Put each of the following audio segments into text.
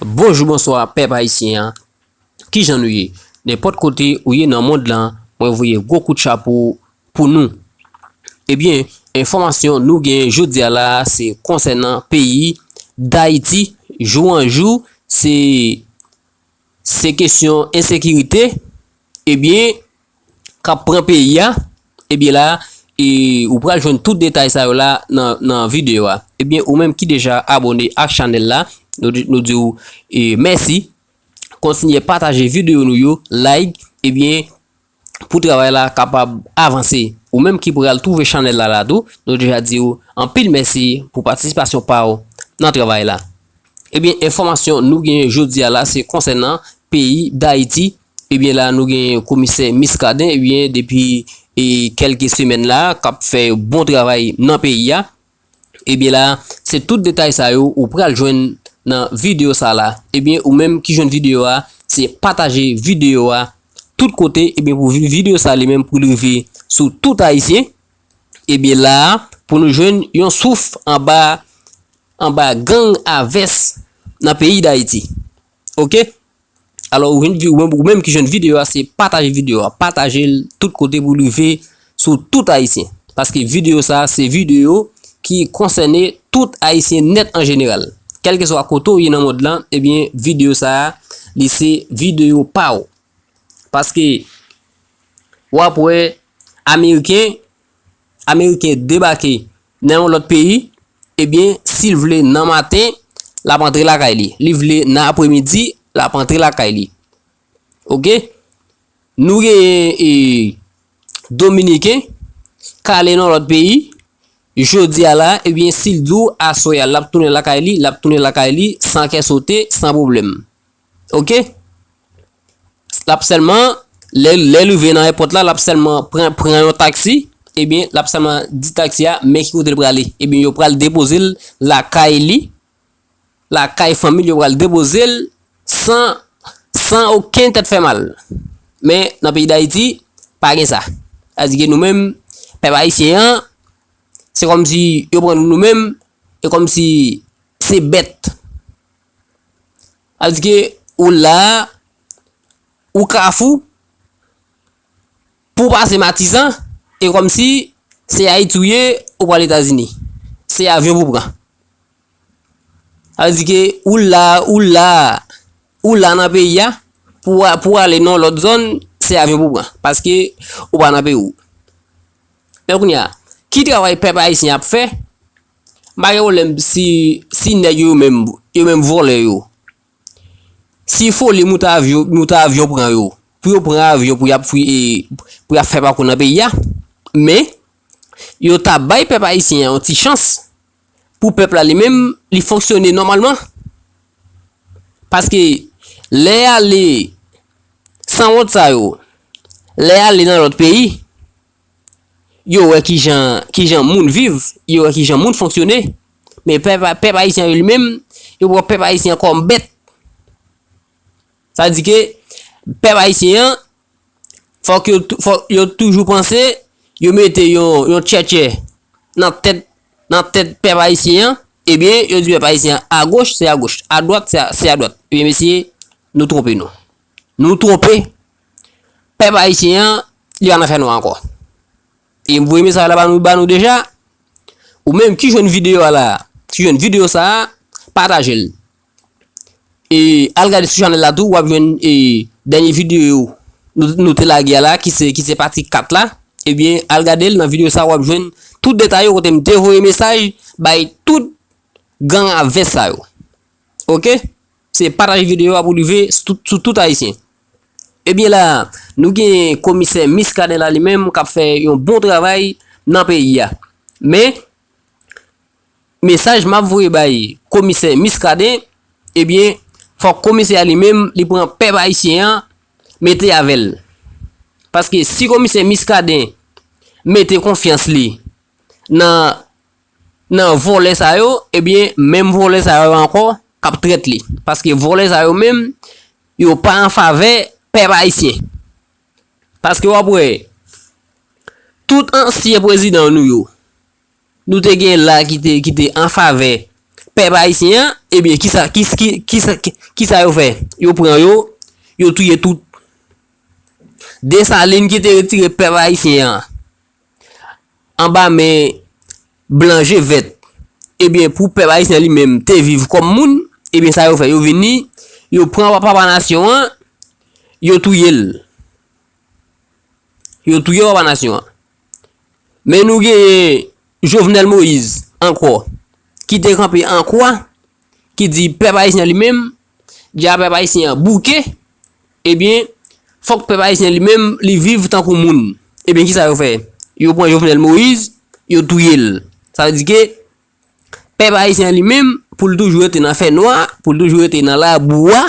Bonjou bonswa pèp ayisyen an kijan nou ye nenpòt kote ou ye nan mond lan mwen voye gwo kout chapo pou nou ebyen enfòmasyon nou gen jodi a la se konsènan peyi dayiti jou an jou se se kesyon ensekirite ebyen kap pran peyi a ebyen la e ou pral jwenn tout detay sa yo la nan video a ebyen ou menm ki deja abone ak chanèl la nou diw mèsi kontinye pataje video nou yo like ebyen pou travay la kapab avanse ou menm ki pral twouve chanèl la la tou nou deja diw anpil mèsi pou patisipasyon paw nan travay la ebyen enfòmasyon nou gen jodi a la se konsènan peyi dayiti. Ebyen la nou gen komisè Miskaden ebyen depi kelke semèn la kap fè yon bon travay nan peyi a ebyen la se tout detay sa yo ou pral jwenn nan video sa la ebyen ou menm ki jwenn video a se pataje video a tout kote ebyen pou video sa li menm pou li rive sou tout ayisyen ebyen la pou nou jwenn yon souf anba anba gang a vès nan peyi dayiti ok. Alò ou jwenn ou menm ou menm ki jwenn video a se pataje video a patajel tout kote pou rive sou tout ayisyen paske video sa se video ki konsène tout ayisyen nèt an jeneral kèlkeswa kote ou ye nan mond lan ebyen video sa li se video pa ou paske wap wè ameriken Ameriken debake nan yon lòt peyi, ebyen, si l vle nan maten, l ap antre lakay li. Li vle nan apremidi, l ap antre lakay li. Ok? Nou genyen e Dominiken k ale nan yon lòt peyi, jodi a la, ebyen, si l di w aswè a l ap tounen lakay li, l ap tounen lakay li san kè sote, san pwoblèm. Ok. Lap sèlman, lè lè rive nan èpòt la, lap sèlman pran pran yon taksi, ebyen lap sèlman di taksi a men ki kote l prale. Ebyen yo pral depoze l lakay li, lakay fanmi l yo pral depoze l san san oken tèt fè mal. Men nan peyi Dayiti, pa gen sa. Sa di ke nou menm, pèp ayisyen an, se kòm si yo pran nou nou menm, e kòm si se bèt. Sa vle di ke ou la, ou Kafou, pou w pase Matizan, e kòm si se Ayiti ou ye, ou pral Etazini. Se avyon pou w pran. Sa vle di ke ou la, ou la, ou la nan peyi a, pou w, pou w ale nan yon lòt zòn, se avyon pou w pran. Paske ou pa nan peyi ou. Men kounye a, ki travay pèp ayisyen ap fè? M pa gen pwoblèm si si nèg yo yo menm yo menm vòlè yo si foli moute avyon moute avyon pran yo pou yo pran avyon pou y ap fouye pou y ap fè pakou nan peyi a men yo ta bay pèp ayisyen an yon ti chans pou pèp la li menm li fonksyone nòmalman paske lè y ale sanwont sa yo lè y ale nan lòt peyi Yo wè ki jan ki jan moun viv, yo wè ki jan moun fonksyone. Men pèp a pèp ayisyen an yo li menm, yo pran pèp ayisyen an kòm bèt. Sa vle di ke pèp ayisyen an fòk yo tou fòk yo toujou panse yo mete yon yon tchètchè nan tèt nan tèt pèp ayisyen an ebyen yo di pèp ayisyen an agoch se agoch, adwat se a se adwat. Ebyen mesye nou twonpe nou. Nou twonpe Pèp ayisyen an, li pa nan fè nwa ankò. E m voye mesaj la ba nou deja, ou menm ki jwenn videyo a la, ki jwenn videyo sa a, pataje l. E al gade sou chanèl la tou, w ap jwenn e dènye videyo nou te lage a la ki se ki se pati 4 la, ebyen al gade l nan videyo sa a w ap jwenn tout detay yo kote m te voye mesaj bay tout gang a vès sa yo. Ok. Se pataj video a pou rive sou tout ayisyen. Ebyen la a, nou gen komisè Miskaden la li menm kap fè yon bon travay nan peyi a. Men, mesaj map voye bay komisè Miskaden, ebyen fòk komisè a li menm li pran pèp ayisyen an mete avè l. Paske si komisè Miskaden mete konfyans li nan nan vòlè sa yo ebyen menm vòlè sa yo ankò kap trèt li paske vòlè sa yo menm yo pa an favè pèp ayisyen paske wap wè tout ansyen prezidan nou yo nou te gen la ki te an favè pèp ayisyen an ebyen kisa kisa yo fè yo pran yo yo touye tout desalin ki te retire pèp ayisyen an anba men blan je vèt ebyen pou pèp ayisyen li menm te viv kòm moun ebyen sa yo fè yo vini yo pran papa nasyon an yo touye l yo touye papa nasyon an men nou genyen jovenel moïse ankò ki te kanpe an kwa ki di pèp ayisyen li menm di a pèp ayisyen an bouke Ebyen, fòk pèp ayisyen li menm li viv tankou moun. Ebyen ki sa yo fè? Yo pran Jovenel Moïse, yo touye l. Sa vle di ke pèp ayisyen li menm pou l toujou rete nan fè nwa, pou l toujou rete nan labou a,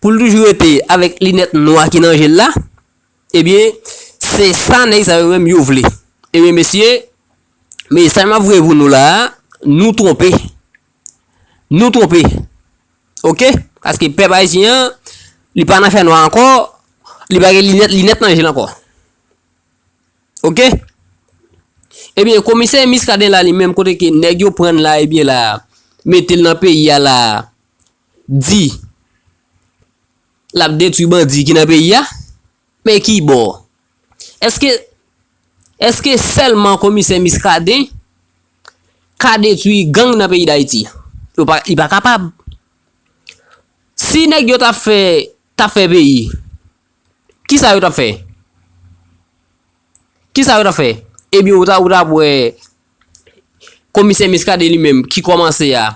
pou l toujou rete avèk linèt nwa ki nan je l la, ebyen se sa nèg sa yo menm yo vle. Ebyen mesye, mesaj m ap voye pou nou la a, nou twonpe. Nou twonpe ok paske pèp ayisyen an li pa nan fè nwa ankò li pa gen linèt linèt nan je l ankò ok ebyen komisè miskaden la li menm kote ke nèg yo prann la ebyen la metel nan peyi a la di lap detwi bandi ki nan peyi a men ki bò Eske Eske selman komisè miskaden ka detwi gang nan peyi dayiti yo pa li pa kapab si nèg yo tap fè tap fè peyi kisa yo tap fè kisa yo tap fè ebyen ou ta ou tap wè komisè miskaden li menm ki komanse a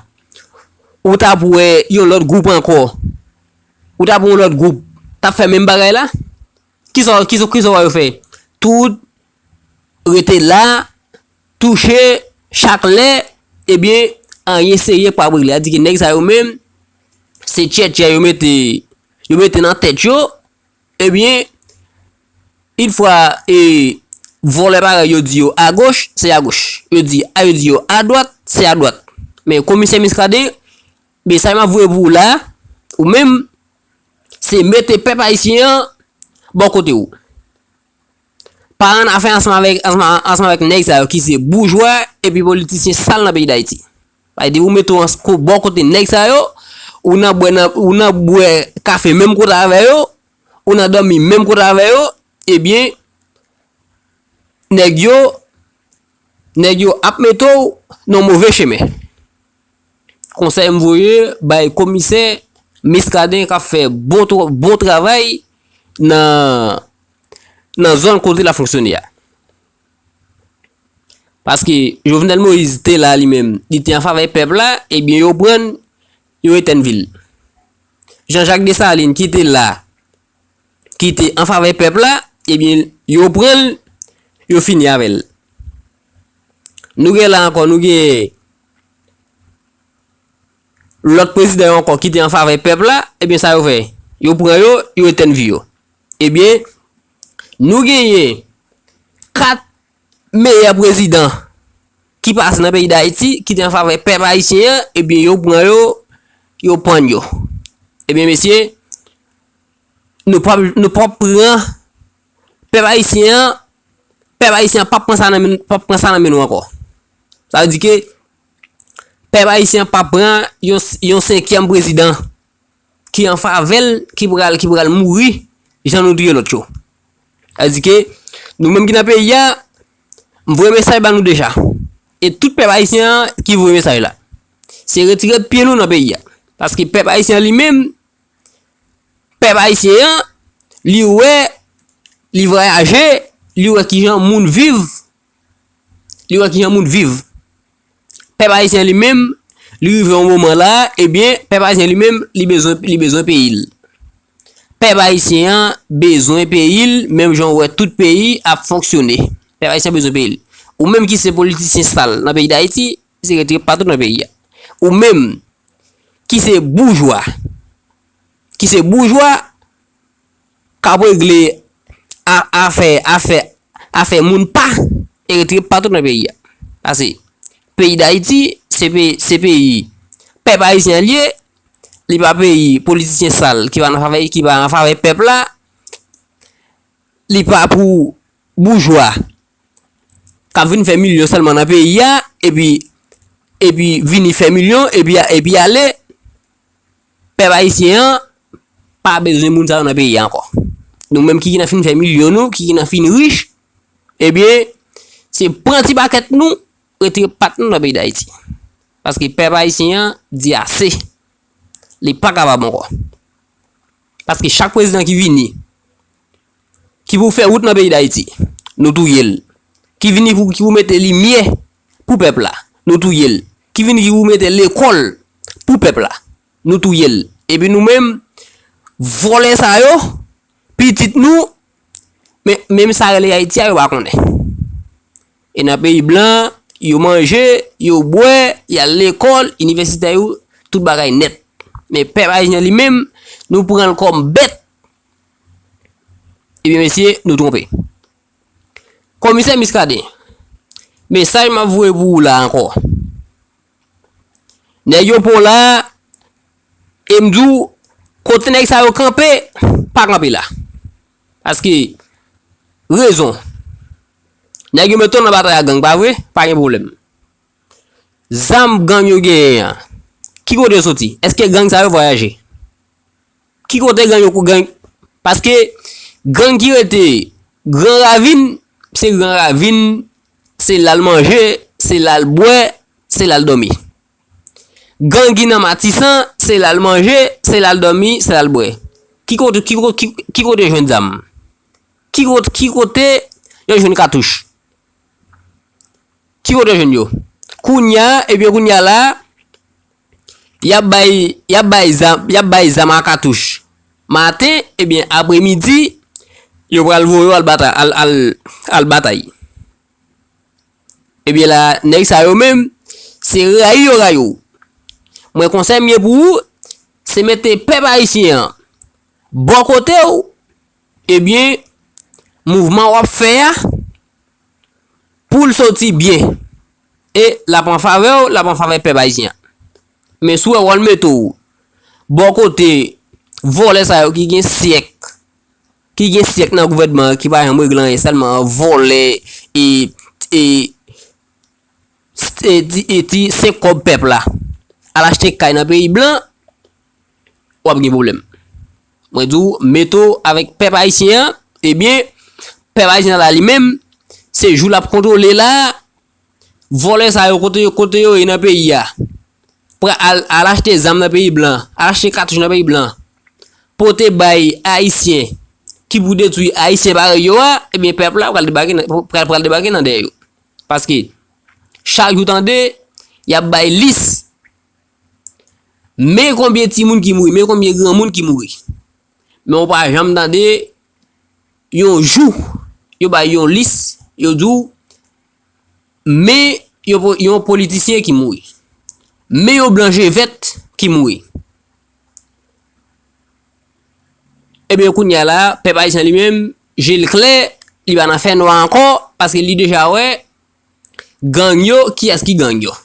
ou tap wè yon lòt gwoup ankò ou tap wè yon lòt gwoup tap fè menm bagay la. Kisa w wè yo fè? Tout, rete la, touche, chak lè, ebyen, anyen serye pap regle. Sa di ke nèg sa yo menm, se tchètchè yo mete, yo mete nan tèt yo, ebyen, in fwa e vòlè parèy yo di yo agoch, se agoch. Yo di, a yo di yo adwat, se adwat. Men, komisè Miskaden, mesaj map voye pou ou la, ou menm, Se mete pèp ayisyen an bò kote ou. Pa annafè ansanm avèk nèg sa yo ki se boujwa epi politisyen sal nan peyi Dayiti. Bay depi ou mete ou bò kote nèg sa yo, ou nan bwè nan, ou nan bwè kafe menm kote avè yo, ou nan dòmi menm kote avè yo, ebyen nèg yo, nèg yo ap mete ou nan move chemen. Konsèy m voye bay komisè Miskaden kap fè bon travay nan zòn kote lap fonksyone a. Paske Jovenel Moïse te la li menm, li te an favè pèp la, ebyen yo pran l, yo etèn vi l. Jean Jacques Dessalines ki te la, ki te an favè pèp la, ebyen yo pran l, yo fini avè l. Nou gen la ankò, nou gen Lòt prezidan yo ankò ki te an favè pèp la, ebyen sa yo fè? Yo pran yo, yo etèn vi yo. Ebyen, nou genyen 4 meyè prezidan ki pase nan peyi Dayiti, ki te an favè pèp ayisyen an, ebyen yo pran yo, yo pann yo. Ebyen mesye, nou pap pran Pèp ayisyen an, pèp ayisyen an pap pran sa nan men, pap pran sa nan men nou ankò. Sa vle di ke pèp ayisyen an pap pran yon, yon senkyèm prezidan ki an favè l, ki pral, ki pral mouri jan nou touye lòt yo. Sa vle di ke nou menm ki nan peyi a, m voye mesaj ba nou deja. E tout pèp ayisyen an ki voye mesaj la. Se retire pye nou nan peyi a. Paske pèp ayisyen an li menm, pèp ayisyen an, li wè, li vwayaje, li wè ki jan moun viv, li wè ki jan moun viv. Pèp ayisyen an li menm, li rive yon moman la, ebyen, eh pèp ayisyen li menm, li bezwen, li bezwen peyi l. Pèp ayisyen an bezwen peyi l, menm jan ou wè tout peyi ap fonksyone. Pèp ayisyen bezwen peyi l. Ou menm ki se politisyen sal nan peyi Dayiti, se rete patout nan peyi a. Ou menm ki se boujwa. ki se boujwa k ap regle afè afè afè moun pa etre patou nan peyi a pase peyi dayiti se peyi se peyi pèp ayisyen an li ye li pa peyi politisyen sal ki pa nan favè ki pa nan favè pèp la li pa pou boujwa k ap vin fè milyon sèlman nan peyi a epi epi vini fè milyon epi epi ale Pèp ayisyen an pa bezwen moun sa yo nan peyi a ankò. Nou menm ki gen nan fin fè milyon nou, ki gen nan fin rich, ebyen se pran ti pakèt nou, retire pat nou nan peyi Dayiti. Paske pèp ayisyen an di ase. Li pa kapab ankò. Paske chak prezidan ki vini, ki pou fè wout nan peyi Dayiti, nou touye l. Ki vini pou ki pou mete limyè Pou pèp la, nou touye l. Ki vin di ou mete lekòl pou pèp la, nou touye l. Epi nou menm, vòlè sa yo, pitit nou, men, menm sa rele Ayiti a yo pa konnen. E nan peyi blan, yo manje, yo bwè, y al lekòl, inivèsitè yo, tout bagay nèt. Men pèp ayisyen an li menm, nou pran l kòm bèt. Ebyen mesye, nou twonpe. Komisè Muscadin, mesaj map voye pou ou la ankò. Nèg yo pa w la, e m di w, kote nèg sa yo kanpe, pa kanpe la. Paske, rezon, nèg yo mete w nan batay ak gang, pa vre? Pa gen pwoblèm. Zam gang yo genyen an, ki kote yo soti? Eske gang sa yo vwayaje? Ki kote gang yo kou gang? Paske gang ki rete gran ravin, se gran ravin, se la l manje, se la l bwè, se la l dòmi. Gang ki nan matisan, se la l manje, se la l dòmi, se la l bwè. Ki kote, ki kote, ki kote yo jwenn zam? Ki kote, ki kote yo jwenn katouch? Ki kote yo jwenn yo? Kounya, ebyen kounya la. Yap bay yap bay zam yap bay zam a katouch maten ebyen apre midi yo pral voye yo al batay al al al batay ebyen la nèg sa yo menm se rayi yo rayi w mwen konsèy m gen pou ou se mete pèp ayisyen an bò kote w ebyen mouvman wap fè a pou l soti byen. E lap an favè w, lap an favè pèp ayisyen an. Men si w wè wòl mete w bò kote vòlè sa yo ki gen syèk, ki gen syèk nan gouvènman an ki pa janm regle anyen sèlman vòlè e e e ti 5 kòb pèp la al achte kay nan peyi blan. wap gen problem. Mwen di w mete w avèk pèp ayisyen an, ebyen pèp ayisyen an la li menm se jou lap kontwole la vòlè sa yo kote kote yo ye nan peyi a pran al al achte zam nan peyi blan al achte katouch nan peyi blan pote bay ayisyen ki pou detwi ayisyen parèy yo a ebyen pèp la pral debake nan pral pral debake nan dèyè yo paske chak jou tande yap bay lis Men konbyen timoun ki mouri, men konbyen granmoun ki mouri. Men ou pa janm tande yon jou yo bay yon lis, yo di ou men yon politisyen ki mouri. Men yon blan je vèt ki mouri. Ebyen kounye a la, pèp ayisyen li menm, je l klè, li pa nan fè nwa ankò, paske li deja wè gang yo, kiyès ki gang yo.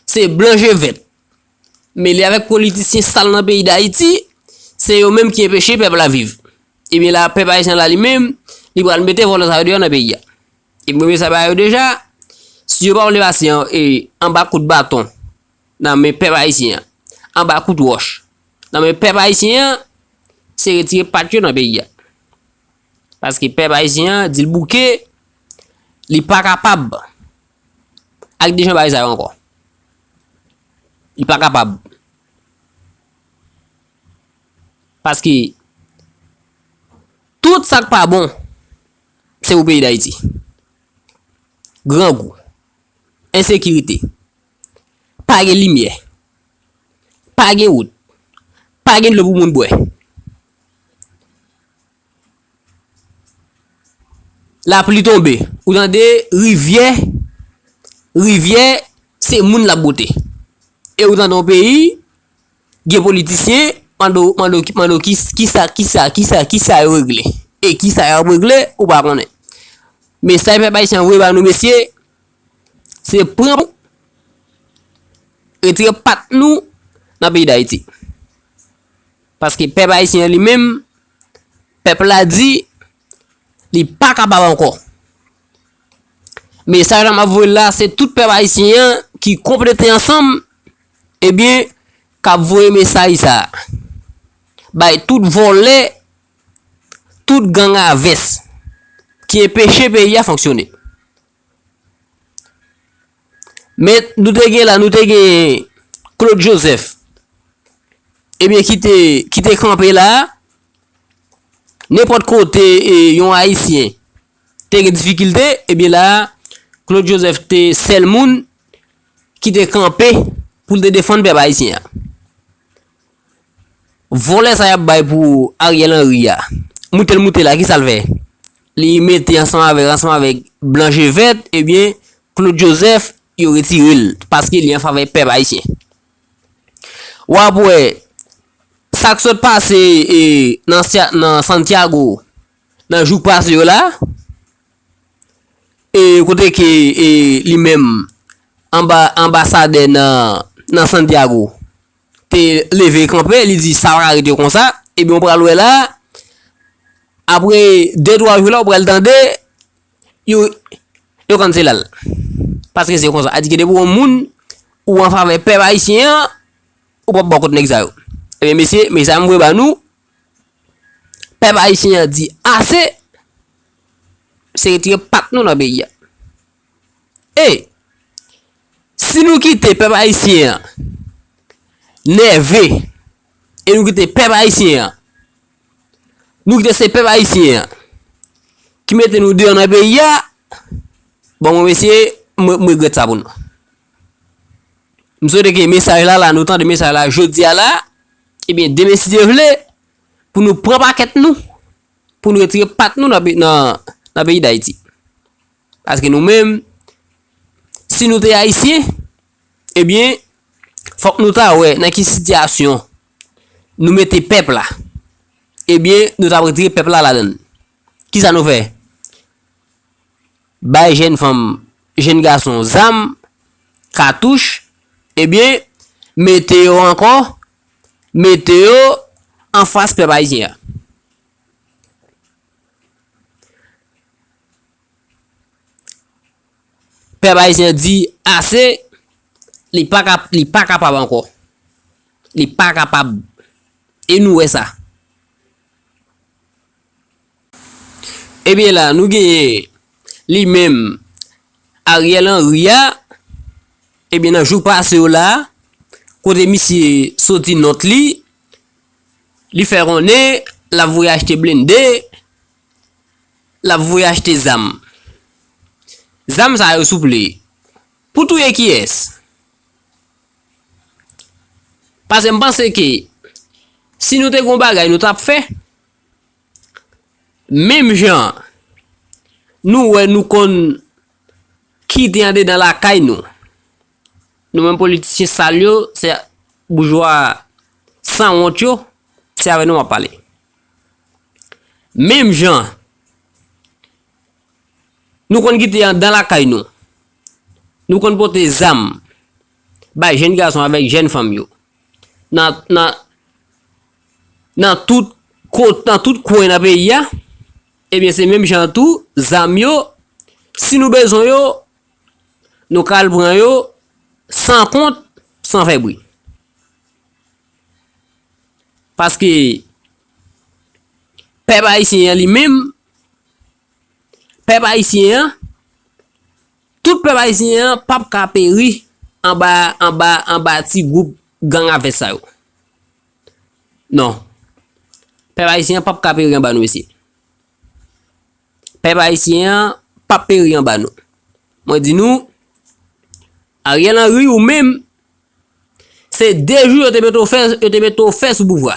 Se blan je vèt. Mele avèk politisyen sal nan peyi dayiti, se yo menm ki enpeche pèp la viv. Ebyen la pèp ayisyen la li menm, li pral mete vòlò sa yo deyò nan peyi a. E premye sa ba yo deja, si yo pa vle pase anba kout baton nan men pèp ayisyen an, anba kout wòch nan men pèp ayisyen an, se retire pat yo nan peyi a. Paske pèp ayisyen an di l bouke, li pa kapab. Ak dijon bagay sa yo ankò. Li pa kapab. Paske, tout sa k pa bon, se pou peyi Dayiti. Grangou, ensekirite, pa gen limyè, pa gen wout, pa gen dlo pou moun bwè. Lapli tonbe, ou tande rivyè, rivyè se moun lap bwote. E ou tande yon peyi, gen politisyen, mande w, mande w, mande w kis, kisa, kisa, kisa, kisa yo regle. E kisa yap regle, ou pa konnen. Mesaj pèp ayisyen voye ba nou mesye, se pran pou, retire pat nou nan peyi dayiti. Paske pèp ayisyen li menm, Pèp la di li pa kapab ankò. Mesaj la map voye la se tout pèp ayisyen an ki konplete ansanm ebyen kap voye mesaj sa bay tout vòlè, tout gang a vès ki enpeche peyi a fonksyone. Men nou te gen la, nou te gen Claude Joseph. Ebyen ki te, ki te kanpe la, nenpòt kote e yon Ayisyen te gen difikilte, ebyen la, Claude Joseph te sèl moun ki te kanpe pou l te defann pèp Ayisyen an. Vòlè sa yap bay pou Ariel Henry ya moutel moute la kisal fè li mete ansanm avèk ansanm avèk blan je vèt ebyen Claude Joseph yo retirel paske li anfavè pèp ayisyen wap wè sak sot pase nan Santiago nan jou k pase yo la e kote ke li menm anba anbasadè nan Santiago. te leve kanpe, li di sa pa ka rete konsa, ebyen ou pral wè la, apre 2 3 jou la ou pral tande yo yo kanselal. Paske se konsa, adike depi yon moun ou an favè pèp ayisyen an, ou pap bò kont nèg sa yo. Ebyen mesye, mesaj mwen voye ba nou, pèp ayisyen an di ase, se retire pat nou nan peyi a. Hey! Si nou kite pèp ayisyen an nève e nou kite pèp ayisyen an, nou kite se pèp ayisyen an ki mete nou deyò nan peyi a, bon mwen mesye, mwen regrèt sa pou nou. M swete ke mesaj la la, nou tande mesaj la jodi a la, ebyen demen si Dye vle, pou nou pran pakèt nou, pou nou retire pat nou nan peyi dayiti. Paske nou menm, si nou te Ayisyen, ebyen, fòk nou ta wè nan ki sitiyasyon nou mete pèp la. Ebyen, nou ta retire pèp la ladan l. Ki sa nou fè? Bay jenn fanm, jenn gason zam, katouch, ebyen, mete yo ankò, mete yo anfas pèp Ayisyen an. Pèp Ayisyen an di ase, li pa ka, li pa kapab ankò. Li pa kapab. E nou wè sa. E byen la, nou genyen li menm Ariel Henry a, e byen nan jou pase yo la, kote misye soti nòt li, li fè konnen, l ap voye achte blennde, Lap voye achte zam. Zam sa yo souple. Pou touye kiyès? Pase m panse ke si nou te gon bagay nou tap fè. Menm jan nou wè nou konn kite andedan lakay nou. Nou menm politisyen sal yo, boujwa san wont yo, se avè nou wap pale. Menm jan nou konn kite andan lakay nou, nou konn pote zam bay jenn gason avèk jenn fanm yo nan tout kwen nan peyi a, ebyen se menm jan tou zam yo, si nou bezwen yo, nou ka al pran yo san kont, san fè bri. Paske pèp ayisyen an li menm, pèp ayisyen an, tout pèp ayisyen an p ap ka peri anba, anba, anba ti gwoup gang a vès sa yo. Non. Pèp ayisyen an p ap ka peri anba nou mesye. Pèp ayisyen an p ap peri anba nou. Mwen di nou, Ariel Henry ou menm, Se 2 jou yo te mete w fè, yo te mete w fè sou pouvwa.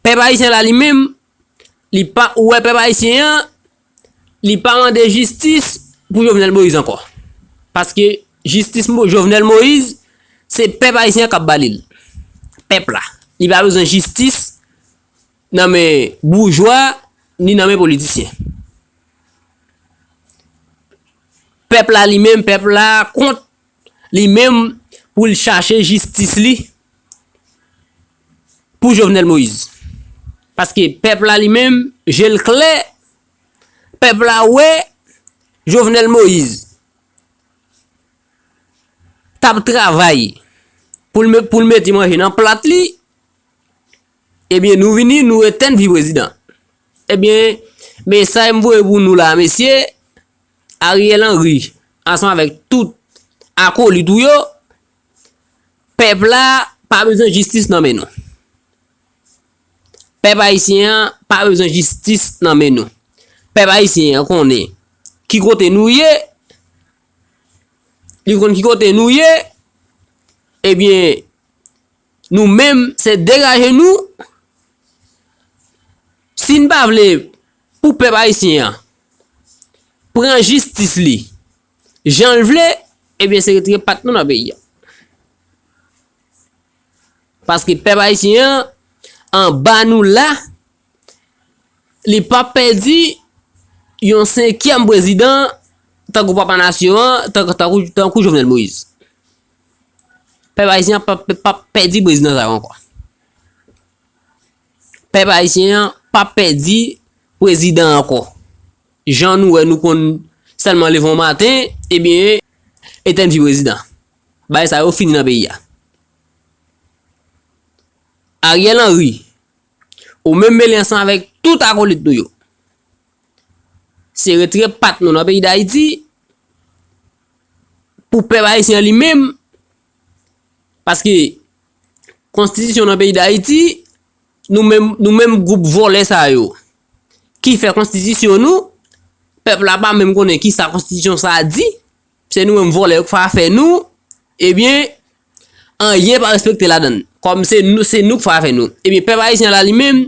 Pèp ayisyen la li menm, li pa, ou wè pèp ayisyen an, li pa mande jistis pou Jovenel Moïse ankò. Paske jistis mo, Jovenel Moïse, se pèp ayisyen an k ap ba li l. Pèp la. Li pa bezwen jistis nan men boujwa, ni nan men politisyen. Pèp la li menm, pèp la kont. li menm pou l chache jistis li pou Jovenel Moïse. Paske pèp la li menm je l klè, pèp la wè Jovenel Moïse t ap travay pou l mete manje nan plat li, ebyen nou vini nou etèn vi prezidan. Ebyen mesaj m voye pou nou la mesye, Ariel Henry ansanm avèk tout akolit ou yo, pèp la pa bezwen jistis nan men nou. Pèp ayisyen an pa bezwen jistis nan men nou. Pèp ayisyen an konnen ki kote nou ye, li konn ki kote nou ye, ebyen nou menm se degaje nou, si n pa vle Pou pèp ayisyen an pran jistis li jan l vle, ebyen se retire pat nou nan peyi a. Paske pèp ayisyen an anba nou la, li pa p pèdi yon senkyèm prezidan tankou papa nasyon an, tankou Jovenel Moïse. Pèp ayisyen an pa p pèdi prezidan sa yo ankò. Pèp ayisyen an pap pèdi prezidan ankò. Jan nou wè nou konn sèlman leve yon maten ebyen etèn vi prezidan. Bagay sa yo fini nan peyi a. Ariel Henry, ou menm mele ansanm avèk tout akolit nou yo. Se retre pat nou nan peyi dayiti pou pèp ayisyen an li menm. Paske konstitisyon nan peyi dayiti nou menm nou menm gwoup vòlè sa yo ki fè konstitisyon nou pèp la pa menm konnen ki sa konstitisyon sa a di se nou menm vòlè yo k fè afè nou ebyen anyen pa respekte ladan l kòm se nou se nou k fè afè nou ebyen pèp ayisyen la li menm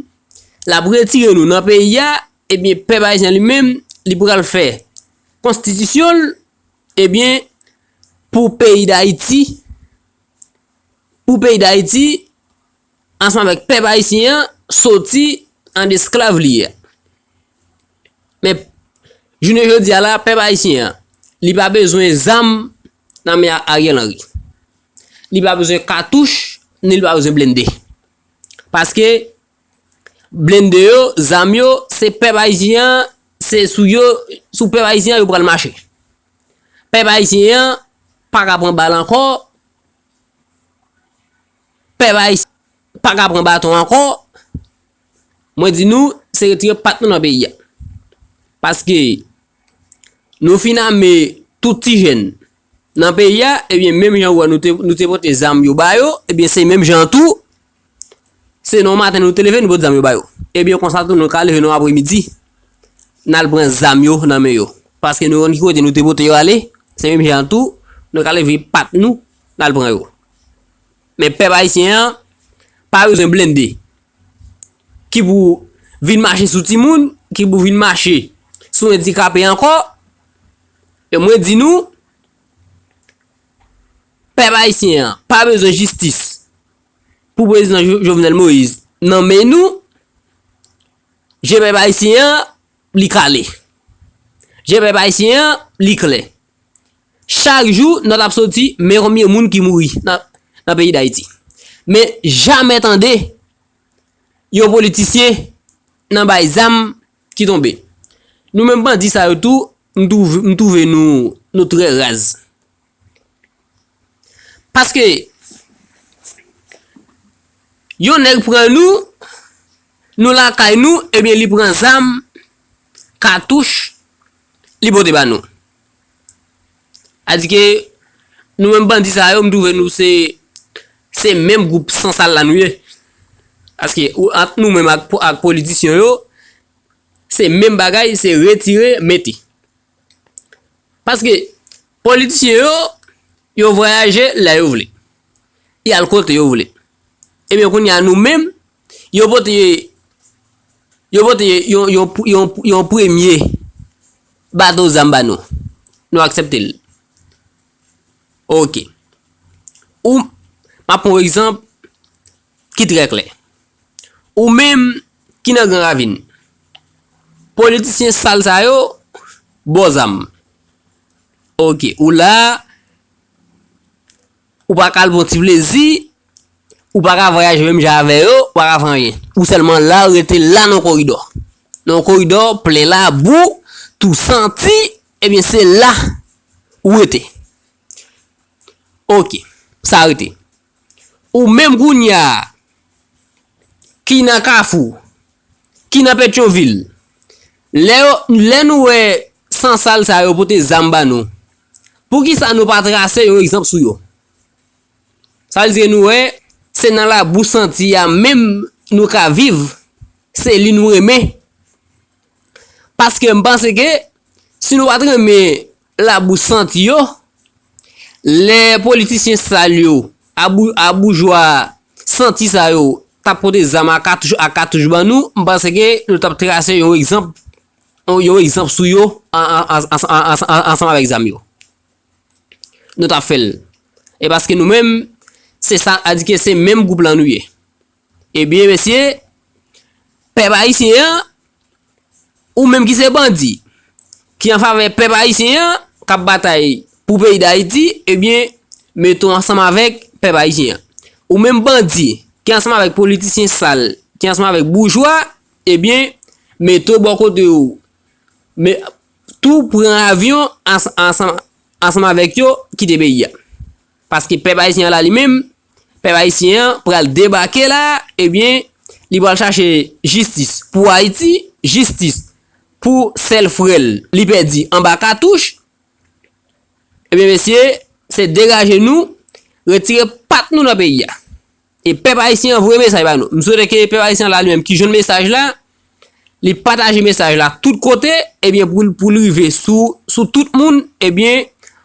l ap retire nou nan peyi a ebyen pèp ayisyen li menm li pral fè konstitisyon l Ebyen pou peyi dayiti, pou peyi dayiti, ansanm avèk pèp ayisyen an, soti an esklav li ye. Men, jounen jodi a la, pèp ayisyen an, li pa bezwen zam nan men Ariel Henry. Li pa bezwen katouch, ni li pa bezwen blende. Paske. Blende yo, zam yo, se pèp ayisyen an, se sou yo, sou pèp ayisyen an yo pral mache. Pèp ayisyen an pa ka pran bal ankò, pèp ayisyen an pa ka pran baton ankò, mwen di nou se retire pat nou nan peyi a. Paske nou fin ame tout ti jèn nan peyi a, ebyen menm jan ou wè nou te pote zam yo ba yo, ebyen se menm jan tou. Se non maten nou te leve nou pot zam yo ba yo. Ebyen konsa tou nou ka leve non apre midi n al pran zam yo nan men yo. Paske nou konn ki kote nou te pote yo ale, se menm jan an tou nou ka leve pa t nou n al pran yo. Men pèp ayisyen an pa bezwen blende ki pou vin mache sou timoun, ki pou vin mache sou endikape ankò. E mwen di nou pèp ayisyen an pa bezwen jistis pou prezidan Jovenel Moïse nan men nou, je pèp ayisyen an li kale. Je pèp ayisyen an li klè. Chak jou nòt ap soti men konbyen moun ki mouri nan peyi Dayiti. Men jamè tande yon politisyen nan bay zam ki tonbe. Nou menm bandi sa yo tou, m twouve nou trè raz. Paske yon nèg pran nou, nou lakay nou, ebyen li pran zam, katouch, li pote ba nou. Adike, nou menm bandi sa yo, m twouve nou se, se menm gwoup san sal la nou ye. Paske, ou ant nou menm ak politisyon yo, se menm bagay, se retire, mete. Paske politisyen yo, yo vwayaje lè yo vle. Y al kote yo vle. Ebyen kounye a nou menm, yo pote yo pote yon yon yon yon premye bato zam ba nou. Nou aksepte l. Ok. Ou, m ap pran yon egzanp, ki trè klè. Ou menm ki nan gran ravin. Politisyen sal sa yo bo zam. Ok ou la ou pa ka al pran ti plezi, ou pa ka vwayaje menm jan avè yo, ou pa ka fè anyen. Ou sèlman la ou rete la nan koridò. Nan yon koridò plen labou, tou santi, ebyen se la ou rete. Ok sa rete. Ou menm kounya ki nan kafou, ki nan petyonvil, lè yo, lè nou wè san sal sa yo pote zam ba nou, poukisa nou pa trase yon egzanp sou yo? Sa vle di nou wè se nan labou santi a menm nou ka viv, se li nou renmen. Paske m panse ke si nou pa t renmen Labou santi yo, lè politisyen sal yo, a boujwa santi sa yo t ap pote zam a katouch ban nou, m panse ke nou t ap trase yon egzanp, yon egzanp sou yo ansanm avèk zam yo. Nou t ap fè l. E paske nou menm, se sa a di ke se menm gwoup lan nou ye. Ebyen mesye, pèp ayisyen an, ou menm ki se bandi, ki an favè pèp ayisyen an, k ap batay pou peyi dayiti, ebyen, mete w ansanm avèk pèp ayisyen an. Ou menm bandi, ki ansanm avèk politisyen sal, ki ansanm avèk boujwa, ebyen, mete w bò kote yo, tou pran avyon ansanm avèk yo, kite peyi a. Paske pèp ayisyen an la li menm, pèp ayisyen an pral debake la, ebyen li pral chache jistis pou Ayiti, jistis pou sèl frè l li pèdi anba katouch, ebyen mesye se degaje nou retire pat nou nan peyi a. E pèp ayisyen an voye mesaj ba nou. M swete ke pèp ayisyen an la li menm ki jwenn mesaj la, li pataje mesaj la tout kote, ebyen pou l rive sou tout moun, ebyen.